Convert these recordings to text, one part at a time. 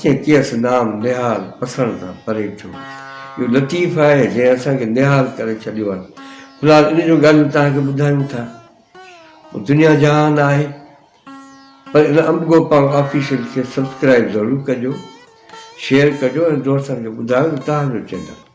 جنهن ڪيس نام نهال پسڻ تان پري ٿيو. اهو لطيف آهي جنهن اسان کي نهال ڪري ڇڏيو آهي. في الحال ان جون ڳالهيون توهان کي ٻڌايون ٿا. اهو دنيا جهان آهي. پر ان امب گوپانگ آفيشل کي سبسڪرائيب ضرور ڪجو، شيئر ڪجو ۽ دوستن کي ٻڌايو ته توهان جو چينل.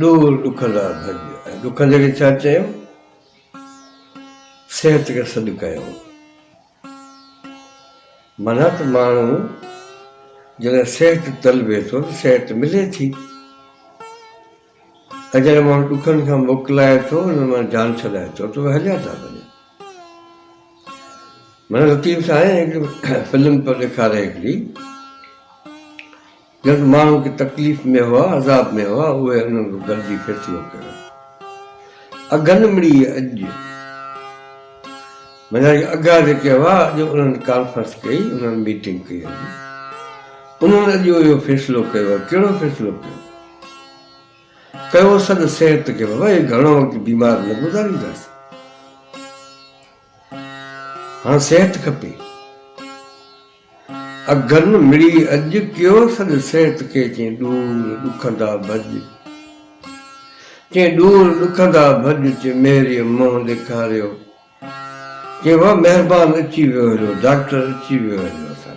ڏور ڏکن ڏانهن ڀڄ ۽ ڏکن جي اڳي ڇا چيم؟ صحت کي سڏ ڪيم. معنيٰ ته ماڻهو جڏهن صحت طلبي ٿو ته صحت ملي ٿي. ۽ جڏهن ماڻهو ڏکن کان موڪلائي ٿو، انهن مان جان ڇڏائي ٿو ته اهي هليا ٿا وڃن. منا لطيف سائين هڪڙي فلم پيو ڏيکاري هڪڙي، جنهن ۾ ماڻهو ڪي تڪليف ۾ هئا، عذاب ۾ هئا، اهي انهن کي گڏجي فيصلو ڪيو. اگهن مڙيء اڄ، منا اهي اگها جيڪي هئا، اڄ انهن ڪانفرنس ڪئي، انهن ميٽنگ ڪئي. انهن اڄ اهو فيصلو ڪيو. ڪهڙو فيصلو ڪيو؟ ڪيو سڏ صحت کي بابا هي گهڻو وقت بيمار نه گذارينداس هاڻ صحت کپي اگهن مڙي اڄ ڪيو سڏ صحت کي چين ڏور ڏکندا ڀڄ چين ڏور ڏکندا ڀڄ چين مهري منهن ڏيکاريو چين وا مهربان اچي ويو هليو ڊاڪٽر اچي ويو هليو اسان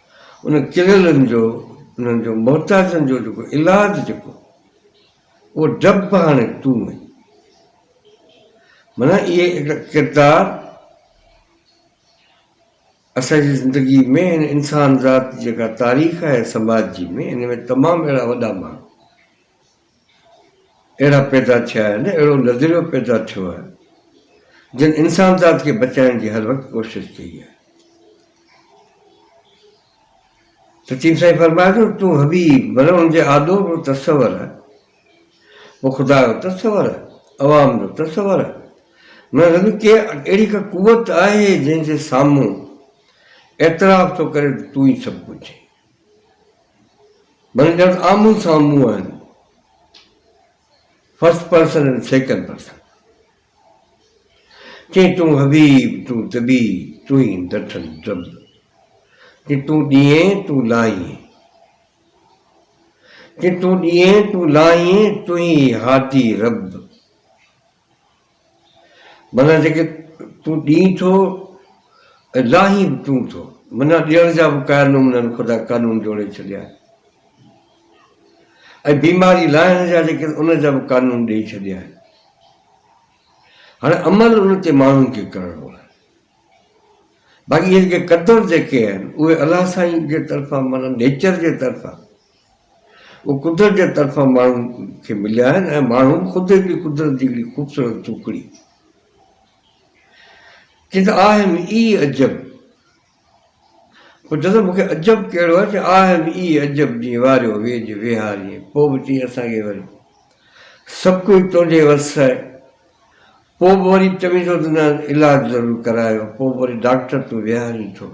انهن چليلن جو، انهن جو محتاجن جو جيڪو علاج جيڪو اهو ڊپ به هاڻي تون آهين. معنيٰ اهي هڪڙا ڪردار اسان جي زندگي ۾ هن انسان ذات جيڪا تاريخ آهي سماج جي ۾ ان ۾ تمام اهڙا وڏا ماڻهو. اهڙا پيدا ٿيا آهن، اهڙو نظريو پيدا ٿيو آهي، جن انسانذات کي بچائڻ جي هر وقت ڪوشش ڪئي آهي. ته چيم سائين فرمايو ته تون حبيب برون جي آڏو به تصور آهي، پوء خدا جو تصور آهي، عوام جو تصور آهي، معنيٰ ته ڪي اهڙي ڪا قوت آهي جنهن جي سامهون اعتراف ٿو ڪري ته تون ئي سڀ ڪجهه آهين. معنيٰ ڄڻ آمهون سامهون آهن، فرسٽ پرسن ۽ سيڪنڊ پرسن. چئين تون حبيب، تون طبيع، تون ئي ڊٺل ڊب. چئين تون ڏيئين، تون لاهيين. چئين تون ڏيئين، تون لاهيين، تون ئي هادي رب. معنيٰ جيڪي تون ڏين ٿو ۽ لاهين به تون ٿو. معنيٰ ڏيڻ جا به قائل نمونن خدا قانون جوڙي ڇڏيا آهن ۽ بيماري لاهڻ جا جيڪي ان جا به قانون ڏئي ڇڏيا آهن. هاڻي عمل ان تي ماڻهن کي ڪرڻو آهي. باقي اهي جيڪي قدر جيڪي آهن اهي الله سائين جي طرفان معنيٰ نيچر جي طرفان اهي قدرت جي طرفان ماڻهن کي مليا آهن ۽ ماڻهو به خود هڪڙي قدرت جي هڪڙي خوبصورت ٽڪڙي چي ته آء ايم اي عجب پوء چوندو مون کي عجب ڪهڙو آهي چي آء ايم اي عجب جي واريو ويجهه ويهاريين پوء به چي اسان کي وري سڀ ڪجهه تنهنجي وس آهي پوء به وري چوين ٿو ته نه علاج ضرور ڪرايو، پوء به وري ڊاڪٽر تون ويهارين ٿو.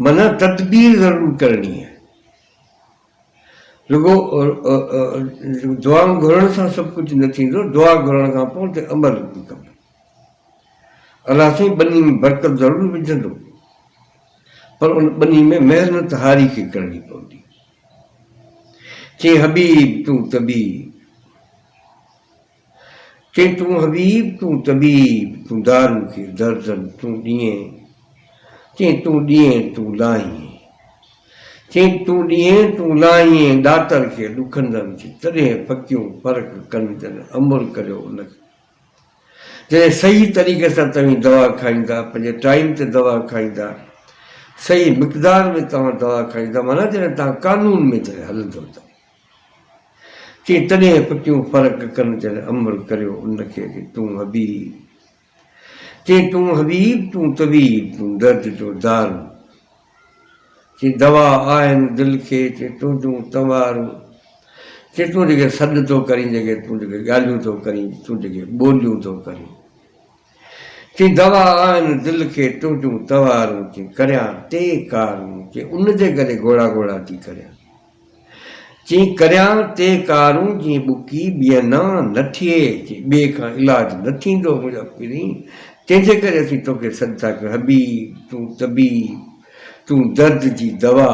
منان تدبير ضرور ڪرڻي آهي. رڳو دعائون گهرڻ سان سڀ ڪجهه نه ٿيندو، دعا گهرڻ کان پوء تي عمل به ڪبو. الله سائين ٻني ۾ برڪت ضرور وجهندو، پر ان ٻني ۾ محنت هاري کي ڪرڻي پوندي. چيائين حبيب تون طبيب. چئين تون حبيب تون طبيب تون دارو ڪي دردن تون ڏيئين چئين تون ڏيئين تون لاهيين چئين تون ڏيئين تون لاهيين ڏاتر کي ڏکندن ٿي تڏهن ڦڪيون فرق ڪن جن عمل ڪريو ان کي جڏهن صحيح طريقي سان توهين دوا کائيندا پنهنجي ٽائيم تي دوا کائيندا صحيح مقدار ۾ توهان دوا کائيندا معنيٰ جڏهن توهان قانون ۾ جڏهن هلندو ته. چي تڏهن به ڪيون فرق ڪن جن امر ڪريو ان کي چي تون حبيب چي تون حبيب تون طبيب تون درد جو دارو چي دوا آهن دل کي چي تنهنجون تنوارون چي تون جيڪي سڏ ٿو ڪرين جيڪي تون جيڪي ڳالهيون ٿو ڪرين تون جيڪي ٻوليون ٿو ڪرين. چي دوا آهن دل کي تنهنجون توارون چي ڪريان تي ڪارون چي ان جي گلي گوڙا گوڙا ٿي ڪريان چي ڪريان تي ڪارون جي ٻڪي ٻيئن نان نه ٿئي چي ٻئي کان علاج نه ٿيندو منهنجا پرين تنهن جي ڪري اسين توکي سڏ ٿا ڪيون حبيب تون طبيب تون درد جي دوا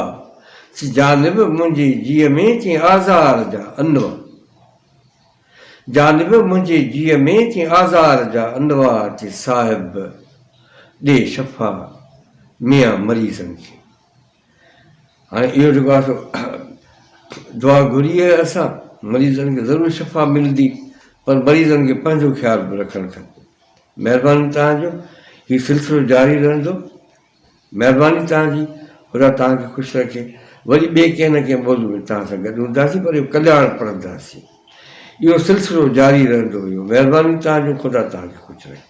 چي جانب منهنجي جيء ۾ چي آزار جا انواع. جانب منهنجي جيء ۾ تين آزار جا انوار جي صاحب ڏي شفا ميان مريضن جي هاڻي اهو جيڪو آهي سو دعا گهري آهي اسان مريضن کي ضرور شفا ملدي پر مريضن کي پنهنجو خيال به رکڻ کپي مهرباني تهان جو هي سلسلو جاري رهندو مهرباني توهان جي خدا توهان کي خوش رکي وري ٻئي ڪنهن نه ڪنهن موضوع ۾ توهان سان گڏ هونداسين پر اهو ڪلياڻ پڙهنداسين اهو سلسلو جاري رهندو اهو مهربانيون توهان جون خدا توهان کي خوش رکي.